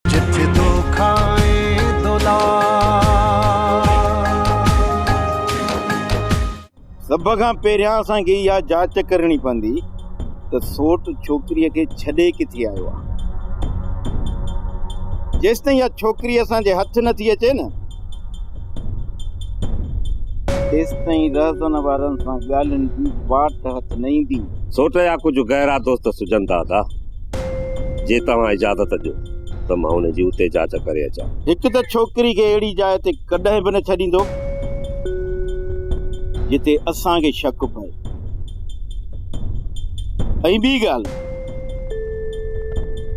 جت دو کائين دولار. سڀ کان پهريان اسان کي اها جاچ ڪرڻي پوندي ته سوٽ ڇوڪريء کي ڇڏي ڪٿي آيو آهي. جيستائين اها ڇوڪري اسان جي هٿ نه ٿي اچي نه تيستائين رهزن وارن سان ڳالهين جي واٽ هٿ نه ايندي. سوٽ جا ڪجهه گهرا دوست سجهندا ٿا. جي توهان اجازت ڏيو ته مان ان جي اتي جاچ ڪري اچان. هڪ ته ڇوڪري کي اهڙي جاء تي ڪڏهن به نه ڇڏيندو جتي اسان کي شڪ پئي ۽ ٻي ڳالهه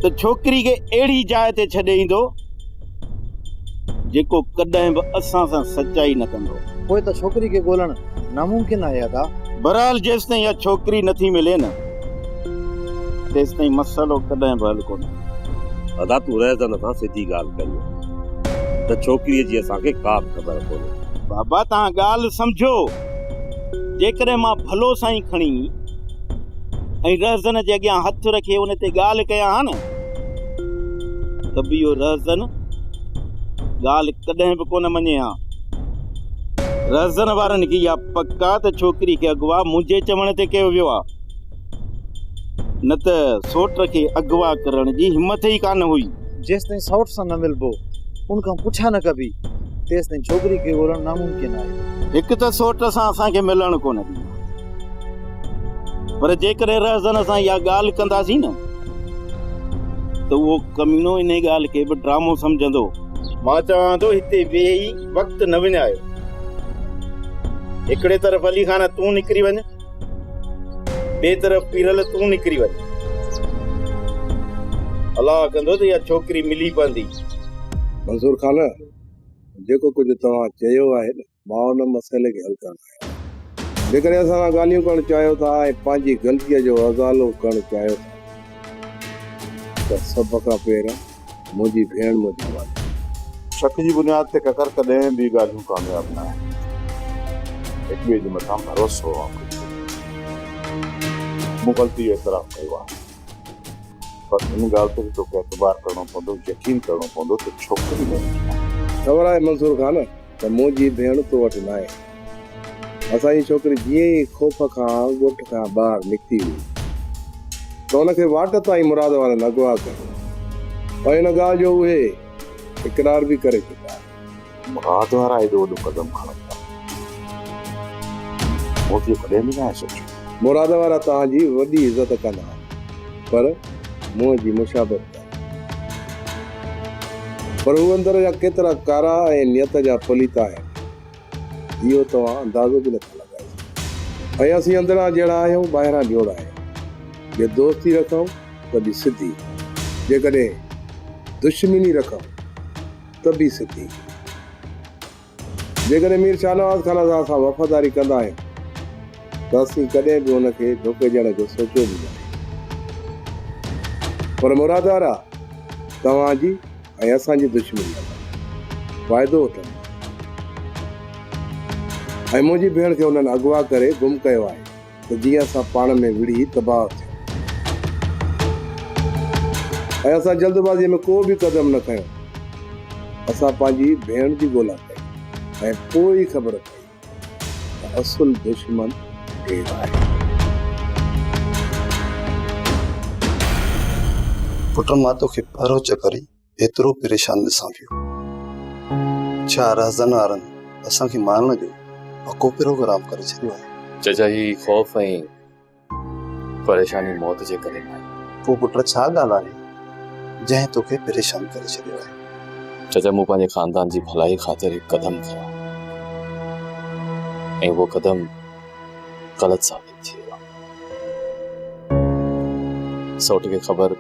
ته ڇوڪري کي اهڙي جاء تي ڇڏي ايندو جيڪو ڪڏهن به اسان سان سچائي نه ڪندو. پوء ته ڇوڪري کي ڳولڻ ناممڪن آهي ادا. بهرحال جيستائين اها ڇوڪري نٿي ملي نه تيستائين مسئلو ڪڏهن به حل ڪونه ٿيندو. ادا تون رهزن سان سڌي ڳالهه ڪريو ته ڇوڪريء جي اسان کي ڪا به خبر ڪونهي. بابا توهان ڳالهه سمجهو جيڪڏهن مان ڀلو سائين کڻي ۽ رهزن جي اڳيان هٿ رکي ان تي ڳالهه ڪيان ها نه. ته به اهو رهزن ڳالهه ڪڏهن به ڪونه مڃي ها. رهزن وارن کي اها پڪ آ ته ڇوڪري کي اغوا منهنجي چوڻ تي ڪيو ويو آ. نه ته سوٽ کي اغوا ڪرڻ جي همٿ ئي ڪانه هئي. جيستائين سوٽ سان نه ملبو، ان کان پڇا نه ڪبي، تيستائين ڇوڪري کي ڳولڻ ناممڪن آهي. هڪ ته سوٽ سان اسان کي ملڻ ڪونه ڏيندا، پر جيڪڏهن رهزن سان اها ڳالهه ڪنداسين نه، ته اهو ڪمينو انهي ڳالهه کي به ڊرامو سمجهندو. مان چوان ٿو هتي ويهي وقت نه وڃايو. هڪڙي طرف علي خان تون نڪري وڃ، ٻئي طرف پيرل تون نڪري وڃ. الله ڪندو ته اها ڇوڪري ملي پوندي. منظور خان جيڪو ڪجهه توهان چيو آهي نه. مان ان مسئلي کي حل ڪرڻ آيو آهيان. جيڪڏهن اسان سان ڳالهيون ڪرڻ چاهيو ٿا ۽ پنهنجي غلطيء جو ازالو ڪرڻ چاهيو ٿا ته سڀ کان پهريان منهنجي ڀيڻ مون جي والد آهي. شڪ جي بنياد تي ڪڪر ڪڏهن به ڳالهيون ڪامياب نه آهن. هڪ ٻئي جي مٿان ڀروسو آپرو ڪريو. مون غلطي جو اعتراف ڪيو آهي پر ان ڳالهه تي به توکي اعتبار ڪرڻو پوندو، يقين ڪرڻو پوندو ته ڇوڪري منهنجي آهي. خبر آهي منصور خان! ته منهنجي ڀيڻ تو وٽ ناهي. اسان جي ڇوڪري جيئن ئي خوف کان ڳوٺ کان ٻاهر نڪتي هئي ته ان کي واٽ تان ئي مراد وارن اغوا ڪيو هو ۽ ان ڳالهه جو اهي اقرار به ڪري چڪا آهن. مراد وارا ايڏو وڏو قدم کڻن ٿا مون ته اهو ڪڏهن به ناهي سوچيو. مراد وارا توهان جي وڏي عزت ڪندا پر منهن جي مشابهت ڪندا. پر هو اندر جا ڪيترا ڪارا ۽ نيت جا پليت آهن، اهو توهان اندازو به نٿا لڳائي سگهو. ۽ اسين اندران جهڙا آهيون، ٻاهران جوڙا آهيون. جي دوستي رکون ته به سڌي، جيڪڏهن دشمني رکون ته به سڌي. جيڪڏهن مير شاهنواز خان اسان سان وفاداري ڪندا آهن ته اسين ڪڏهن به ان کي ڌوڪي ڏيڻ جو سوچيو به ناهي. پر مرادوارا توهان جي ۽ اسان جي دشمنيء مان فائدو وٺندا آهن ۽ منهنجي ڀيڻ کي انهن اغوا ڪري گم ڪيو آهي. ته جيئن اسان پاڻ ۾ وڙهي تباهه ٿيون ۽ اسان جلدبازيء ۾ ڪو به قدم نه کنيو. اسان پنهنجي ڀيڻ جي ڳولا ڪئي ۽ پوء ئي خبر پئي ته اصل دشمن ڪير آهي. پٽ مان توکي پرهه چڪري. ايترو پريشان ڏسان پيو. ڇا رهزن وارن اسان کي مارڻ جو پڪو پروگرام ڪري ڇڏيو آهي؟ چچا هي خوف ۽ پريشاني موت جي ڪري ناهي. پوء پٽ ڇا ڳالهه آهي جنهن توکي پريشان ڪري ڇڏيو آهي؟ چچا مون پنهنجي خاندان جي ڀلائي خاطر هڪ قدم کنيو ۽ اهو قدم غلط ثابت ٿيو. سوٽ کي خبر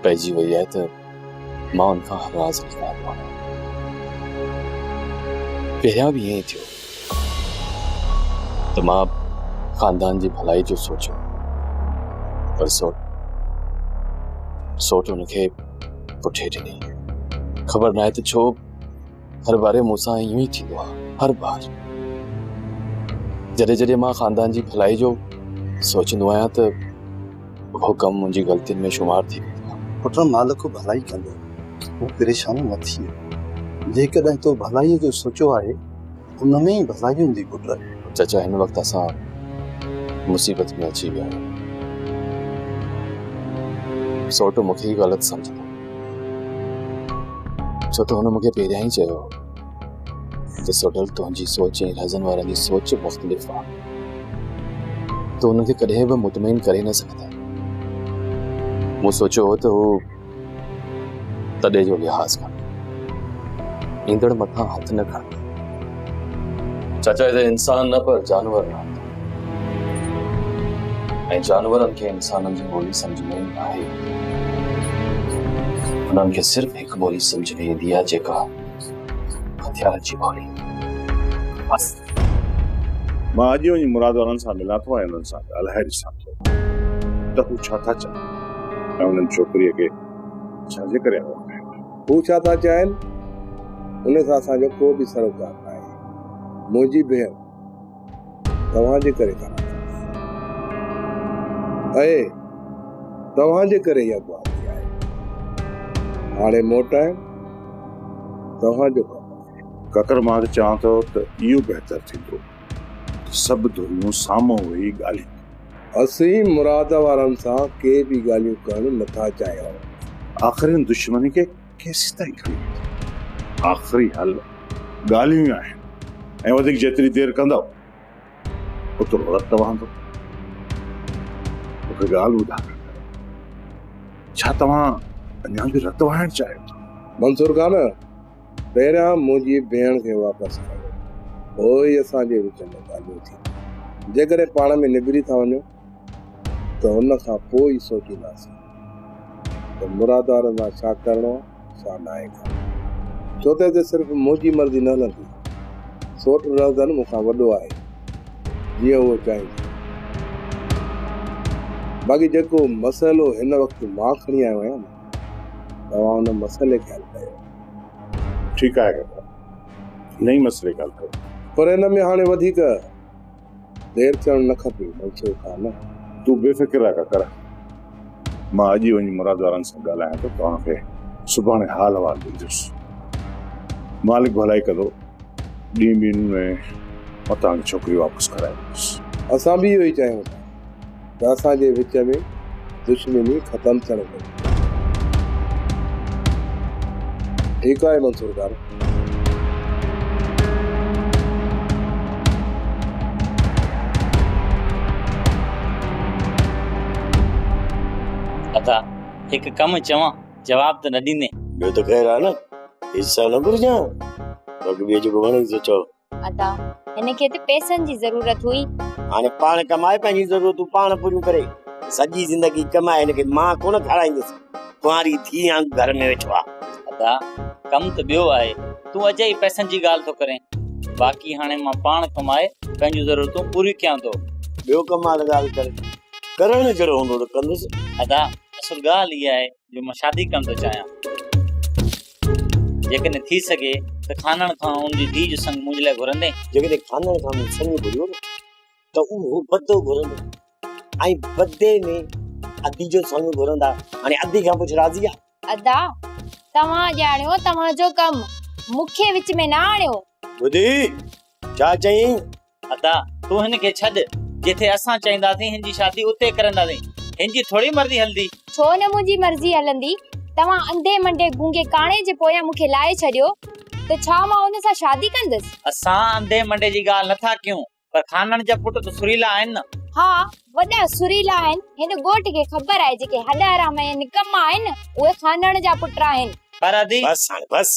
پئجي وئي آهي ته مان ان کان هر راز لڪايو آهي پهريان به ائين ئي ٿيو ته مان خاندان جي ڀلائي جو سوچيو پر سوٽ سوٽ ان کي پٺي ڏني خبر ناهي ته ڇو هر باري مون سان ايئن ئي ٿيندو آهي هر بار جڏهن جڏهن مان خاندان جي ڀلائي جو سوچندو آهيان ته اهو ڪم منهنجي غلطين ۾ شمار ٿي ويندو آهي پٽ مالڪ ڀلائي ڪندو تون پريشان نه ٿي جيڪڏهن تو ڀلائي جو سوچيو آهي ان ۾ ئي ڀلائي هوندي پٽ. چچا هن وقت اسان مصيبت ۾ اچي ويا آهيون. سوٽ مون کي ئي غلط سمجهندو. ڇو ته هن مون کي پهريان ئي چيو هو ته سوڍل تنهنجي سوچ ۽ رهزن وارن جي سوچ مختلف آهي. تون انهن کي ڪڏهن به مطمئن ڪري نه سگهندين. مون سوچيو هو ته هو تڏي جو لحاظ ڪر ايندڙ مٿان هٿ نه کڻ چاچا هتي انسان نه پر جانور رهن ٿا ۽ جانورن کي انسانن جي ٻولي سمجھ ۾ نه آهي انهن کي صرف هڪ ٻولي سمجھ ۾ ايندي آهي جيڪا هٿيارن جي ٻولي بس مان اڄ وڃي مراد وارن سان ملان ٿو ۽ انهن سان ڳالهائي ڏسان ٿو ته هو ڇا ٿا چاهين ۽ انهن ڇوڪريء کي ڇا جي ڪري اغوا ڪيو آهي؟ هو ڇا ٿا چاهين، ان سان اسان جو ڪو به سروڪار ناهي. منهنجي ڀيڻ توهان جي ڪري ٿا مارن. اهي توهان جي ڪري ئي اغوا ٿي آهي. هاڻي موٽائڻ توهان جو ڪم آهي. ڪڪر، مان ته چوان ٿو ته اهو بهتر ٿيندو. سڀ ڌريون سامهون ويهي ڳالهين. اسين مراد وارن سان ڪي به ڳالهيون ڪرڻ نه ٿا چاهيون. آخرين دشمني کي ڪيسيتائين کڻي ويندو؟ آخري حل ڳالهيون ئي آهن ۽ وڌيڪ جيتري دير ڪندؤ اوترو رت وهندو. مون کي ڳالهه ٻڌائڻ ڏيو. ڇا توهان اڃا به رت وهائڻ چاهيو ٿا؟ منصور خان! پهريان منهنجي ڀيڻ کي واپس ڪريو، پوء ئي اسان جي وچ ۾ ڳالهيون ٿينديون. جيڪڏهن پاڻ ۾ نبري ٿا وڃو ته ان کان پوء ئي سوچينداسين ته مرادارن سان ڇا ڪرڻو آهي ڇا ناهي ڪرڻو. ڇو ته هتي صرف منهنجي مرضي نه هلندي. سوٽ رهزن مون کان وڏو آهي، جيئن هوء چاهيندي. باقي جيڪو مسئلو هن وقت مان کڻي آيو آهيان نه. توهان ان مسئلي کي حل ڪيو. ٺيڪ آهي ڪاڪا. انهي مسئلي کي حل ڪيو. پر ان ۾ هاڻي وڌيڪ دير ٿيڻ نه کپي منصور خان. تون بي فڪر رهه ڪاڪر. مان اڄ ئي وڃي مراد وارن سان ڳالهايان ٿو. توهان کي سڀاڻي حال احوال ڏيندس. مالڪ ڀلائي ڪندو. ڏينهن ٻن ۾ مان توهان جي ڇوڪري واپس ڪرائي ويندس. اسان به اهو ئي چاهيون ٿا. ته اسان جي وچ ۾ دشمني ختم ٿيڻ گهرجي. ٺيڪ آهي منصور خان. ادا هڪ ڪم چوان جواب ته نه ڏيندين. ٻيو ته خير آهي نه. حصا نه گهرجان. باقي ٻيو جيڪو وڻيس سو چئو. ادا هن کي ته پئسن جي ضرورت هئي. هاڻي پاڻ ڪمائي پنهنجون ضرورتون پاڻ پوريون ڪري. سڄي زندگي ڪمائي هن کي مان ڪونه کارائيندس. ڪنواري ڌيء وانگو گهر ۾ ويٺو آ. ادا ڪم ته ٻيو آهي. تون اجائي پئسن جي ڳالهه ٿو ڪرين. باقي هاڻي مان پاڻ ڪمائي پنهنجون ضرورتون پوريون ڪيان ٿو. ٻيو ڪم آ ته ڳالهه ڪر. ڪرڻ جهڙو هوندو ته ڪندس. ادا اصل ڳالهه اها آهي جو مان شادي ڪرڻ ٿو چاهيان جيڪڏهن ٿي سگهي ته خانڻ کان ان جي ڌيء جو سڱ منهنجي لاء گهرندين جيڪڏهن خانڻ کان مون سڱ گهريو نه ته اهو بدو گهرندو ۽ بدي ۾ ادي جو سڱ گهرندا هاڻي ادي کان پڇ راضي آهي ادا توهان ڄاڻيو توهان جو ڪم مون کي وچ ۾ نه آڻيو ٻڌي ڇا چئين ادا تون هن کي ڇڏ جتي اسان چائينداسين هن جي شادي اتي ڪرنداسين هن جي ٿوري مرضي هلندي. ڇو نه منهنجي مرضي هلندي توهان انڌي منڊي گونگي ڪاڻي جي پويان مون کي لائي ڇڏيو ته ڇا مان ان سان شادي ڪندس. اسان انڌي منڊي جي ڳالهه نه ٿا ڪيون پر خانڻ جا پٽ ته سريلا آهن نه. ها وڏا سريلا آهن هن ڳوٺ کي خبر آهي جيڪي هڏ حرام ۽ نڪما آهن اهي خانڻ جا پٽ آهن. پر ادي. بس هاڻي بس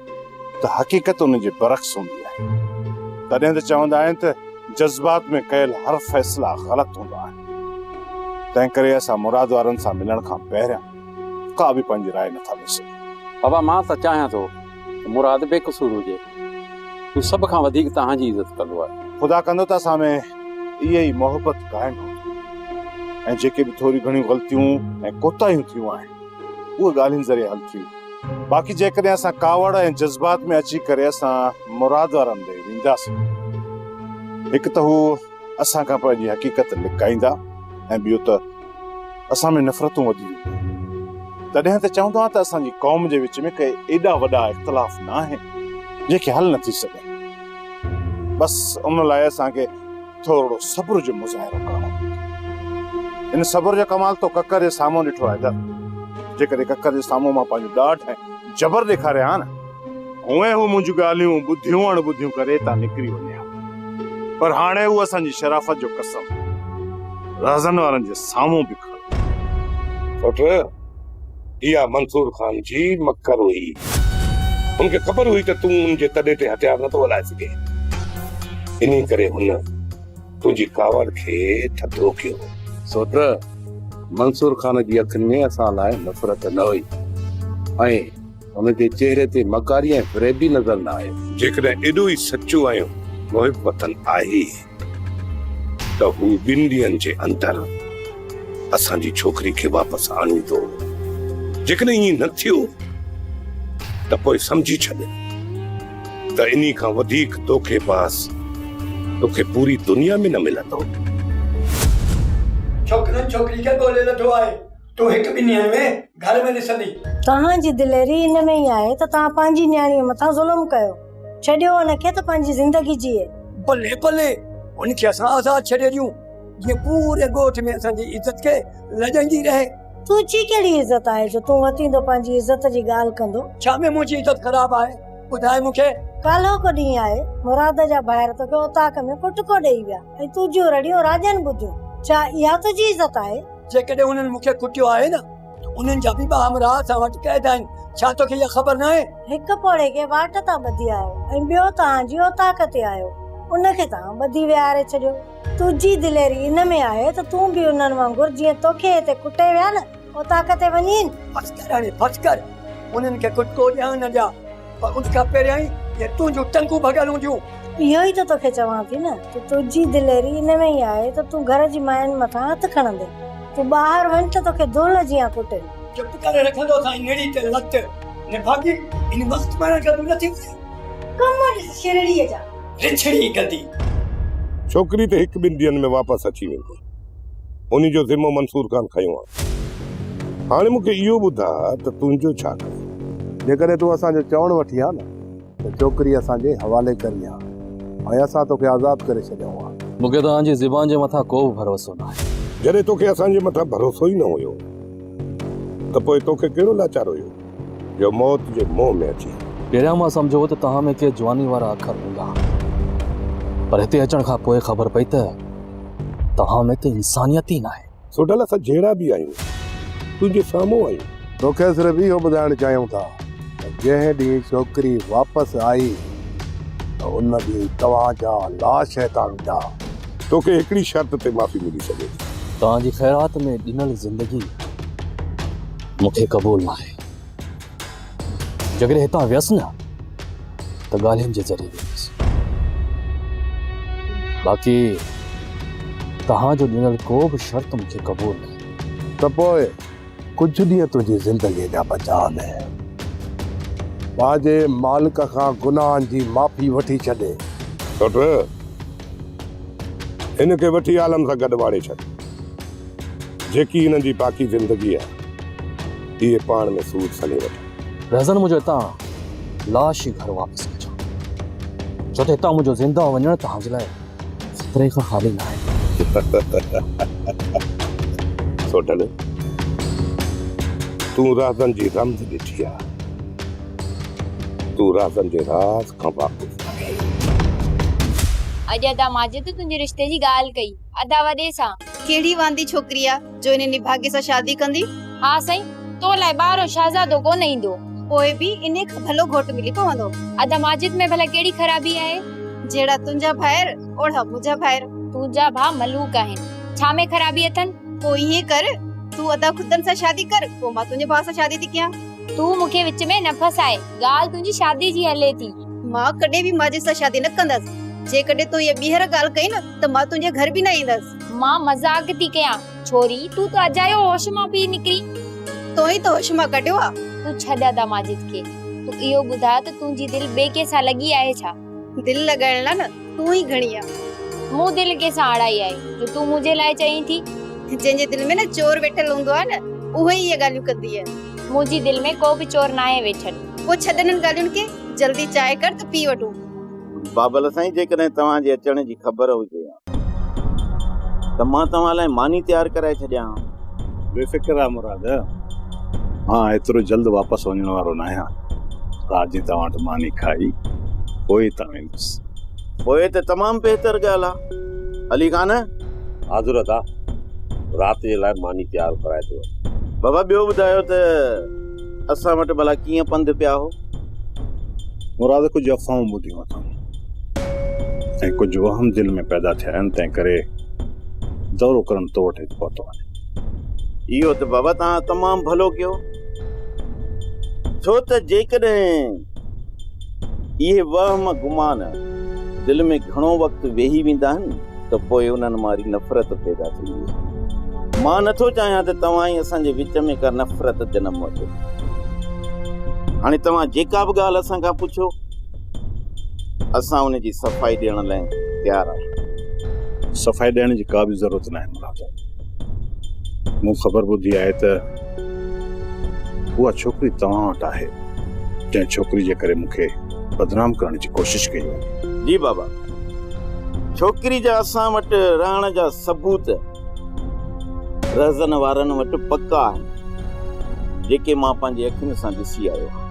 ته حقيقت ان جي برعڪس هوندي آهي. تڏهن ته چوندا آهن ته جذبات ۾ ڪيل هر فيصلا غلط هوندا آهن. تنهن ڪري اسان مراد وارن سان ملڻ کان پهريان ڪا به پنهنجي راء نه ٿا ڏئي سگهون. بابا مان ته چاهيان ٿو ته مراد بي قصور هجي. هو سڀ کان وڌيڪ توهان جي عزت ڪندو آهي. خدا ڪندو ته اسان ۾ اها ئي محبت قائم رهندي ۽ جيڪي به ٿوريون گهڻيون غلطيون ۽ ڪوتاهيون ٿيون آهن، اهي ڳالهين ذريعي حل ٿيون. باقي جيڪڏهن اسان ڪاوڙ ۽ جذبات ۾ اچي ڪري اسان مراد وارا هنڌ وينداسين هڪ ته هو اسان کان پنهنجي حقيقت لڪائيندا ۽ ٻيو ته اسان ۾ نفرتون وڌي وينديون. تڏهن ته چون ٿا ته اسان جي قوم جي وچ ۾ ڪي ايڏا وڏا اختلاف نه آهن جنهن کي حل نه ٿي سگهن. بس ان لاء اسان کي ٿورڙو صبر جو مظاهرو ڪرڻو پوندو ان صبر جو ڪمال تو ڪڪر جي سامهون ڏٺو آهي در جيڪڏهن ڪڪر جي سامهون مان پنهنجو ڏاڍ ۽ جبر ڏيکاري ها نه هونئن هو منهنجون ڳالهيون ٻڌيون اڻ ٻڌيون ڪري تان نڪري وڃي ها پر هاڻي هو اسان جي شرافت جو قسم رهزن وارن جي سامهون به کڻي اٺ اها منصور خان جي مڪر هئي. هن کي خبر هئي ته تون هن جي تڏي تي هٿيار نٿو هلائي سگهين. انهي ڪري هن تنهنجي ڪاوڙ کي ٿڌو ڪيو. سو ته منصور خان جي اکين ۾ اسان لاء نفرت نه هئي ۽ هن جي چهري تي مڪاري ۽ فريب به نظر نه آيو. جيڪڏهن ايڏو ئي سچو ۽ محب وطن آهي. ته هو ٻن ڏينهن جي اندر اسان جي ڇوڪري کي واپس آڻيندو. جيڪڏهن ائين نه ٿيو ته پوء سمجهي ڇڏ ته انهي کان وڌيڪ دوکي باز توکي پوري دنيا ۾ نه ملندو. ڇوڪرو ڇوڪري کي ڳولي لڌو آهي. تون هڪ ٻنهي آهين وي گهر ۾ ڏسندي. توهان جي دليري ان ۾ ئي آهي ته توهان پنهنجي نياڻيء مٿان ظلم ڪيو. ڇڏيو ان کي ته پنهنجي زندگي جيئي. بلي بلي هن کي اسان آزاد ڇڏي ڏيون جيئن پوري ڳوٺ ۾ اسان جي عزت کي لڄائيندي رهي. تنهنجي ڪهڙي عزت آهي جو تون وتيندو پنهنجي عزت جي ڳالهه ڪندو. ڇا ۾ منهنجي عزت خراب آهي ٻڌاء مون کي. ڪالهوڪو ڏينهن آهي مراد جا ڀائر توکي اوطاق ۾ ڦٽڪو ڏيئي ويا ۽ تنهنجيون رڙيون راڄن ٻڌيون. ڇا اها تنهنجي عزت آهي. جيڪڏهن انهن مون کي ڪٽيو آهي نه ته انهن جا ٻه همراهه اسان وٽ قيد آهن، ڇا توکي اها خبر ناهي؟ هڪ پوڙهي کي واٽ تان ٻڌي آيو ۽ ٻيو توهان جي اوطاق تي آيو، ان کي توهان ٻڌي ويهاري ڇڏيو. تنهنجي دليري ان ۾ آهي ته تون به انهن وانگر جيئن توکي هتي ڪٽي ويا نه اوطاق تي وڃين. بس ڪر هاڻي بس ڪر، انهن کي ڪٽڪو ڏيان نه ڏيان، پر ان کان پهريائين جي تنهنجون ٽنگون ڀڳل هونديون. اهو ئي ته توکي چوان ٿي نه ته تنهنجي دليري ان ۾ ئي آهي ته تون گهر جي ماين مٿان هٿ کڻندين. تون ٻاهر وڃ ته توکي دونهن جيان ڪٽين. چپ ڪري رکندو سائين نڙي تي لت. نڀاڳي ان وقت پاڻ گڏ نه ٿيندين. ڪم ڏس شرڙيء جا. رڇڙي گندي. ڇوڪري ته هڪ ٻن ڏينهن ۾ واپس اچي ويندي. انهي جو ذمو منصور خان کنيو آهي. هاڻي مون کي اهو ٻڌاء ته تنهنجو ڇا ڪري؟ جيڪڏهن تون اسان جو چوڻ وٺين ها نه ته ڇوڪري اسان جي حوالي ڪرين ها ۽ اسان توکي آزاد ڪري ڇڏيون ها. مون کي توهان جي زبان جي مٿان ڪو به ڀروسو ناهي. جڏهن توکي اسان جي مٿان ڀروسو ئي نه هيو ته پوء توکي ڪهڙو لاچار هيو؟ جو موت جي منهن ۾ اچي. پهريان مان سمجهيو هو ته توهان ۾ ڪي جواني وارا اکر هوندا پر هتي اچڻ کان پوء خبر پئي ته توهان ۾ ته انسانيت ئي ناهي. سوڍل اسان جهڙا به آهيون تنهنجي سامهون آهيون. توکي صرف اهو ٻڌائڻ چاهيون ٿا ته جنهن ڏينهن ڇوڪري واپس آئي ته ان ڏينهن توهان جا لاش هتان ويندا. توکي هڪڙي شرط تي معافي ملي سگهي ٿي. توهان جي خيرات ۾ ڏنل زندگي. مون کي قبول ناهي. جيڪڏهن هتان ويس نه ته ڳالهين جي ذريعي ويندس. باقي توهان جو ڏنل ڪو به شرط مون کي قبول ناهي. ته پوء ڪجهه ڏينهن تنهنجي زندگيء جا بچاء ۾ پنهنجي مالڪ کان گناهن جي معافي وٺي ڇڏي. سٺ! هن کي وٺي عالم سان گڏ واڙي ڇڏ. جيڪي انهن جي باقي زندگي آ، اهي پاڻ ۾ سود سلهي وٺن. رهزن منهنجو هتان لاش ئي گهر واپس ڪجان، ڇو ته هتان منهنجو زنده وڃڻ توهان جي لاء خطري کان خالي ناهي. سوڍل، تون رهزن جي رمز ڏٺي آ، تون رهزن جي راز کان واقف آهين. اڄ ادا ماجد تنهنجي رشتي جي ڳالهه ڪئي. ادا وڏي سان. ڪهڙي واندي ڇوڪري آ جو انهي نڀاڳي سان شادي ڪندي. ها سائين تو لاء ٻارهون شهزادو ڪونه ايندو. پوء به انهي کان ڀلو گهوٽ ملي پوندو. ادا ماجد ۾ ڀلا ڪهڙي خرابي آهي. جهڙا تنهنجا ڀائر اوڙها منهنجا ڀائر. تنهنجا ڀاء ملوڪ آهن ڇا ۾ خرابي اٿن. پوء ائين ڪر تون ادا خدن سان شادي ڪر پوء مان تنهنجي ڀاء سان شادي ٿي ڪيان. تون مون کي وچ ۾ نه ڦاساء ڳالهه تنهنجي شادي جي هلي ٿي. مان ڪڏهن به ماجد سان شادي نه ڪندس جيڪڏهن تو اها ٻيهر ڳالهه ڪئي نه. ته مان تنهنجي گهر به نه ايندس. مان مذاق ٿي ڪيان. ڇوري، تون ته اجايو هوش مان پئي نڪرين. تو ئي ته هوش مان ڪڍيو آ. تون ڇڏ ادا ماجد کي. تون اهو ٻڌاء ته تنهنجي دل ٻئي ڪنهن سان لڳي آهي ڇا؟ دل لڳائڻ لاء نه تون ئي گهڻي آ. مون دل ڪنهن سان اڙائي آهي جو تون منهنجي لاء چئين ٿي. جنهن جي دل ۾ نه چور ويٺل هوندو آهي نه اهو ئي اهي ڳالهيون ڪندي آهي. منهنجي دل ۾ ڪو به چور ناهي ويٺل. پوء ڇڏ انهن ڳالهين کي. جلدي چانهه ڪر ته پي وٺون. بابل سائين جيڪڏهن توهان جي اچڻ جي خبر هجي ها ته مان توهان لاء ماني تيار ڪرائي ڇڏيان ها. بي فڪر رهه مراد، مان ايترو جلد واپس وڃڻ وارو ناهيان. رات جي توهان وٽ ماني کائي پوء هتان ويندس. پوء ته تمام بهتر ڳالهه آهي علي خان. ها ضرورت آهي، رات جي لاء ماني تيار ڪرائي ٿو وٺان. بابا ٻيو ٻڌايو ته. اسان وٽ ڀلا ڪيئن پنڌ پيا هو؟ مراد ڪجهه افواهون ٻڌيون اٿم ۽ ڪجهه وهم دل ۾ پيدا ٿيا آهن، تنهن ڪري دورو ڪرڻ تو وٽ هت پهتو آهيان. اهو ته بابا توهان تمام ڀلو ڪيو، ڇو ته جيڪڏهن اهي وهم گمان دل ۾ گهڻو وقت ويهي ويندا آهن ته پوء انهن ماري نفرت پيدا ٿي ويندي آهي. مان نه ٿو چاهيان ته توهان ۽ اسان جي وچ ۾ ڪا نفرت جنم وٺي. هاڻي توهان جيڪا به ڳالهه اسان کان پڇو، اسان ان جي صفائي ڏيڻ لاء تيار آهيون. صفائي ڏيڻ جي ڪا به ضرورت ناهي مراد. مون خبر ٻڌي آهي ته. اها ڇوڪري توهان وٽ آهي جنهن ڇوڪري جي ڪري مون کي بدنام ڪرڻ جي ڪوشش ڪئي وڃي. جي بابا، ڇوڪري جا اسان وٽ رهڻ جا ثبوت رهزن وارن وٽ پڪا آهن جيڪي مان پنهنجي اکين سان ڏسي آيو آهيان.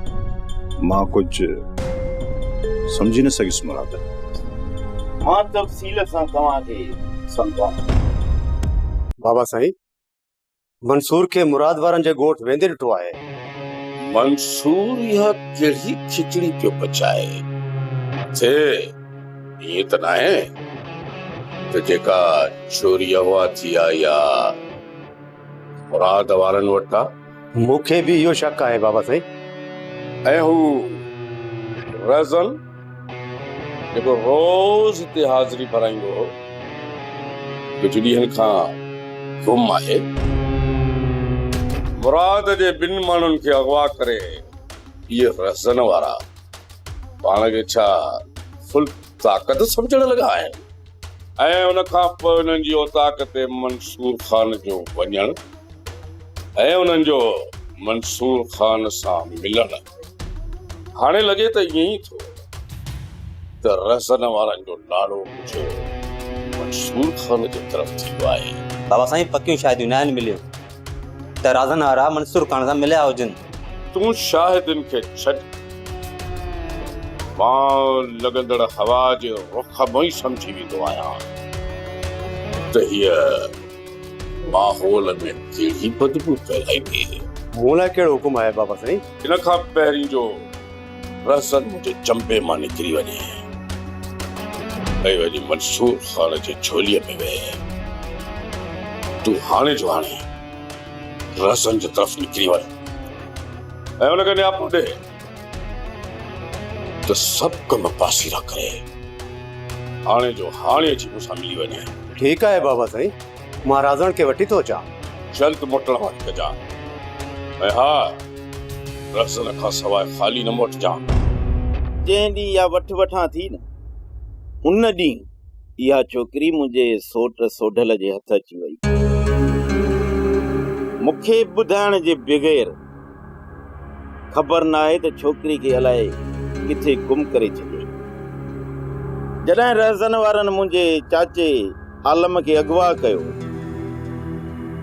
مان ڪجهه سمجهي نه سگهيس مراد. مان تفصيل سان توهان کي سمجهان ٿو. بابا سائين منصور کي مراد وارن جي ڳوٺ ويندي ڏٺو آهي. منصور اها ڪهڙي کچڙي پيو پچائي اٿي، ائين ته ناهي ته جيڪا چوري اغوا ٿي آئي آ مراد وارن وٽ آ؟ مون کي به اهو شڪ آهي بابا سائين. ۽ هو ريزل جيڪو روز هتي حاضري ڀرائيندو هو، ڪجهه ڏينهن کان گم آهي. مراد جي ٻن ماڻهن کي اغوا ڪري اهي ريزل وارا پاڻ کي ڇا فل طاقت سمجهڻ لڳا آهن؟ ۽ ان کان پوء انهن جي اوطاق تي منصور خان جو وڃڻ ۽ انهن جو منصور خان سان ملڻ هاڻي لڳي ته ائين ئي ٿو ته رهزن وارن جو لاڙو مجهه منصور خان جي طرف ٿيو آهي. بابا سائين پڪيون شاهديون ناهن مليون ته رازن وارا منصور خان سان مليا هجن. تون شاهدن کي ڇڏ. مان لڳندڙ هوا جي رخ مان ئي سمجهي ويندو آهيان ته هيء ماحول ۾ ڪهڙي بدبو ڦهلائي پيئي هي. مون لاء ڪهڙو حڪم آهي بابا سائين؟ ان کان پهرين جو رهزن منهنجي چنبي مان نڪري وڃي ۽ وڃي منصور خان جي جهوليء ۾ ويهي، تون هاڻي جو هاڻي. رهسن جي طرف نڪري ويو ۽ ان کي نياپو ڏي ته سڀ ڪم پاسيرا ڪري هاڻي جو هاڻي اچي مون سان ملي وڃي ٺيڪ آهي بابا سائين مان رازڻ کي وٺي ٿو اچان جلد موٽڻ واري ڪجان ۽ ها رهسن کان سواء خالي نه موٽجان جنهن ڏينهن اها وٺ وٺان ٿي نه ان ڏينهن اها ڇوڪري منهنجي سوٽ سوڍل جي هٿ اچي وئي. مون کي ٻڌائڻ جي بغير خبر ناهي ته ڇوڪري کي الائي ڪٿي گم ڪري ڇڏيائين. جڏهن رهزن وارن منهنجي چاچي عالم کي اغوا ڪيو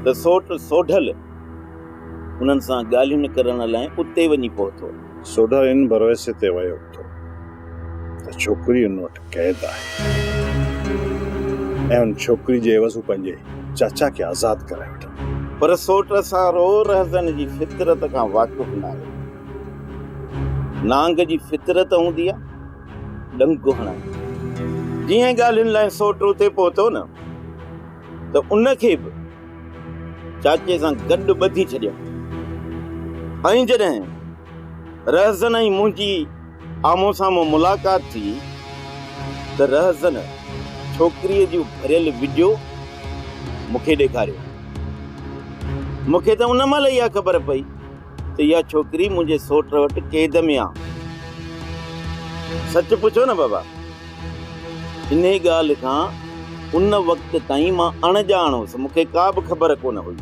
ته سوٽ سوڍل انهن سان ڳالهيون ڪرڻ لاء اتي وڃي پهتو. سوڍل ان ڀروسي تي ويو هوندو ته ڇوڪري ان وٽ قيد آهي ۽ ان ڇوڪري جي عيوض هو پنهنجي چاچا کي آزاد ڪرائي وٺندو. پر سوٽ سان رو رهزن جي فطرت کان واقف ناهي. نانگ جي فطرت هوندي آهي ڏنڪ هڻڻ جي. جيئن ڳالهين لاء سوٽ اتي پهتو نه ته ان کي به چاچي سان گڏ ٻڌي ڇڏيائون ۽ جڏهن رهزن ۽ منهنجي آمهون سامهون ملاقات ٿي ته رهزن ڇوڪريء جون ڀريل وڊيو مون کي ڏيکاريون. مون کي ته ان مهل اها خبر پئي ته اها ڇوڪري منهنجي سوٽ وٽ قيد ۾ آ. سچ پڇو نه بابا، انهيء ڳالهه کان ان وقت تائين مان اڻڄاڻ هوس، مون کي ڪا به خبر ڪونه هئي.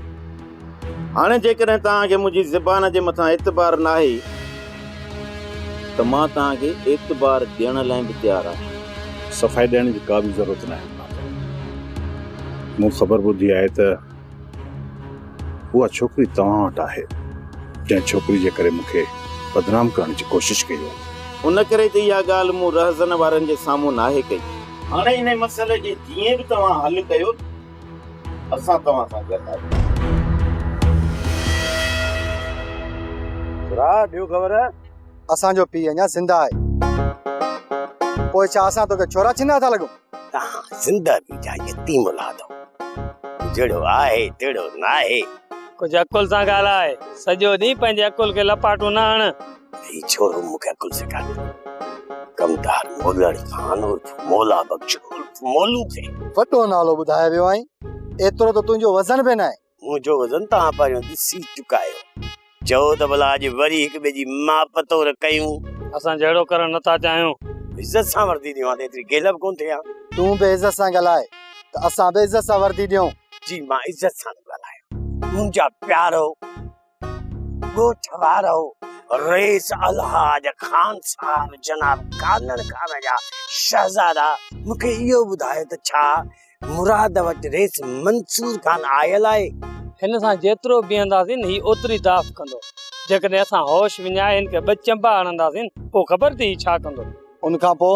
هاڻي جيڪڏهن توهان کي منهنجي زبان جي مٿان اعتبار ناهي ته مان توهان کي اعتبار ڏيڻ لاء به تيار آهيان. صفائي ڏيڻ جي ڪا به ضرورت ناهي مالڪ. مون خبر ٻڌي آهي ته اها ڇوڪري توهان وٽ آهي، جنهن ڇوڪري جي ڪري مون کي بدنام ڪرڻ جي ڪوشش ڪئي آهي. ان ڪري ته اها ڳالهه مون رهزن وارن جي سامهون ناهي ڪئي. هاڻي انهيء مسئلي کي جيئن به توهان حل ڪيو. اسان توهان سان گڏ آهيون. راء ڏيو گور! اسان جو پيء اڃا زنده آهي. پوء ڇا اسان توکي ڇورا ڇنها ٿا لڳون؟ توهان زنده به جا يتيم اولاد آهيو. جهڙو آهي تهڙو ناهي. ڪجهه عقل سان ڳالهاء. سڄو ڏينهن پنهنجي عقل کي لپاٽون نه هڻ. هي ڇورو مون کي عقل سيکاري ٿو. ڪمدار مولڙ خان عرف مولا بخش عرف مولو کي. وڏو نالو ٻڌائي ويو آهين. ايترو ته تنهنجو وزن به ناهي. منهنجو وزن توهان پهريون ڏسي چڪا آهيو. چئو ته ڀلا اڄ وري هڪ ٻئي جي ماپ تور ڪيون. اسان جهيڙو ڪرڻ نه ٿا چاهيون. عزت سان وردي ڏيون ها ته ايتري گيلهه به ڪونه ٿئي ها. تون به عزت سان ڳالهاء ته اسان به عزت سان وردي ڏيون. جي مان عزت سان ٿو ڳالهايان منهنجا پيارو. ڳوٺ وارو رئيس الحاج خان صاحب جناب ڪانڙ کان جا شهزادا مون کي اهو ٻڌايو ته ڇا مراد وٽ رئيس منصور خان آيل آهي؟ هن سان جيترو بيهنداسين هي اوتري داس ڪندو. جيڪڏهن اسان هوش وڃائي هن کي ٻه چنبا هڻنداسين پوء خبر ٿي هي ڇا ڪندو. ان کان پوء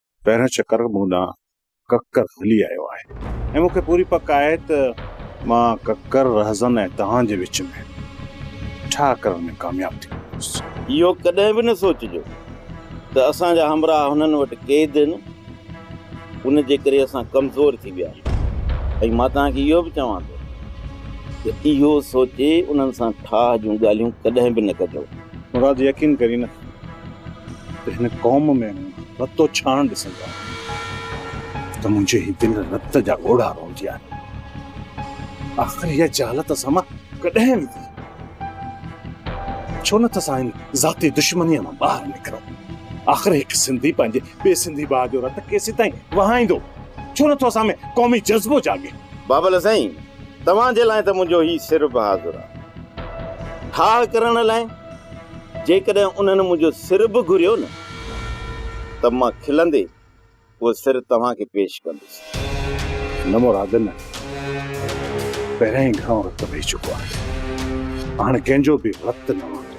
پهريون چڪر مون ڏانهن ڪڪر هلي آيو آهي ۽ مون کي پوري پڪ آهي ته مان ڪڪر رهزن ۽ توهان جي وچ ۾ ٺاهه ڪرڻ ۾ ڪامياب ٿي ويندس. اهو ڪڏهن به نه سوچجو ته اسان جا همراهه هنن وٽ قيد آهن، ان جي ڪري اسان ڪمزور ٿي ويا آهيون ۽ مان توهان کي اهو به چوان ٿو ته اهو سوچي انهن سان ٺاهه جون ڳالهيون ڪڏهن به نه ڪجو. مراد يقين ڪرين نه ته هن قوم ۾ مون رتو ڇاڻ ڏسندو آهيان ته منهنجي هي دل رت جا ڳوڙها روئندي آهي. آخر اها جهالت سان مان ڪڏهن ويندي؟ ڇو نه ٿا اسان هن ذاتي دشمنيء مان ٻاهر نڪرون؟ آخر هڪ سنڌي پنهنجي ٻئي سنڌي ڀاء جو رت ڪيسين تائين وهائيندو؟ ڇو نه ٿو اسان ۾ قومي جذبو جاڳي؟ بابل سائين توهان جي لاء ته منهنجو هي سر به حاضر آ. ٺاهه ڪرڻ لاء جيڪڏهن انهن منهنجو سر به گهريو نه ته مان کلندي اهو سر توهان کي پيش ڪندس. نه مراد نه. پهريان ئي گهڻو رت وهي چڪو آهي. هاڻ ڪنهن جو به رت نه وهندو.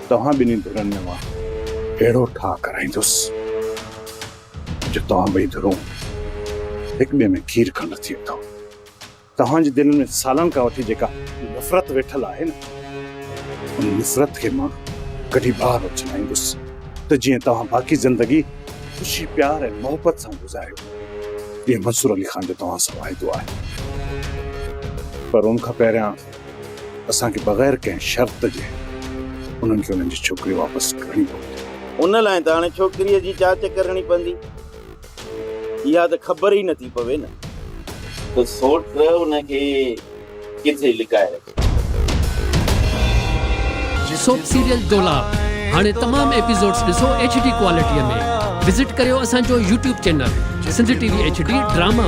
توهان ٻنهي ڌرين ۾ مان اهڙو ٺاهه ڪرائيندس. جو توهان ٻئي ڌرون هڪ ٻئي ۾ کير کنڊ ٿي اٿو. توهان جي دلين ۾ سالن کان وٺي جيڪا نفرت ويٺل آهي نه ان نفرت کي مان ڪڍي ٻاهر اڇلائيندس ته جيئن توهان باقي زندگي خوشي پيار ۽ محبت سان گذاريو اهو منصور علي خان جو توهان سان وعدو آهي. پر ان کان پهريان اسان کي بغير ڪنهن شرط جي انهن کي انهن جي ڇوڪري واپس ڪرڻي پوندي. ان لاء ته هاڻي ڇوڪريء جي چاچ ڪرڻي پوندي. اها ته خبر ئي نٿي پوي نه. ته سوٽ ان کي ڪٿي لڪائي رکي. سوپ سيريل دولاب هاڻي تمام ايپيسوڊز ڏسو ايڇ ڊي ڪوالٽيء ۾ وزٽ ڪريو اسان جو YouTube channel Sindh T V H D drama.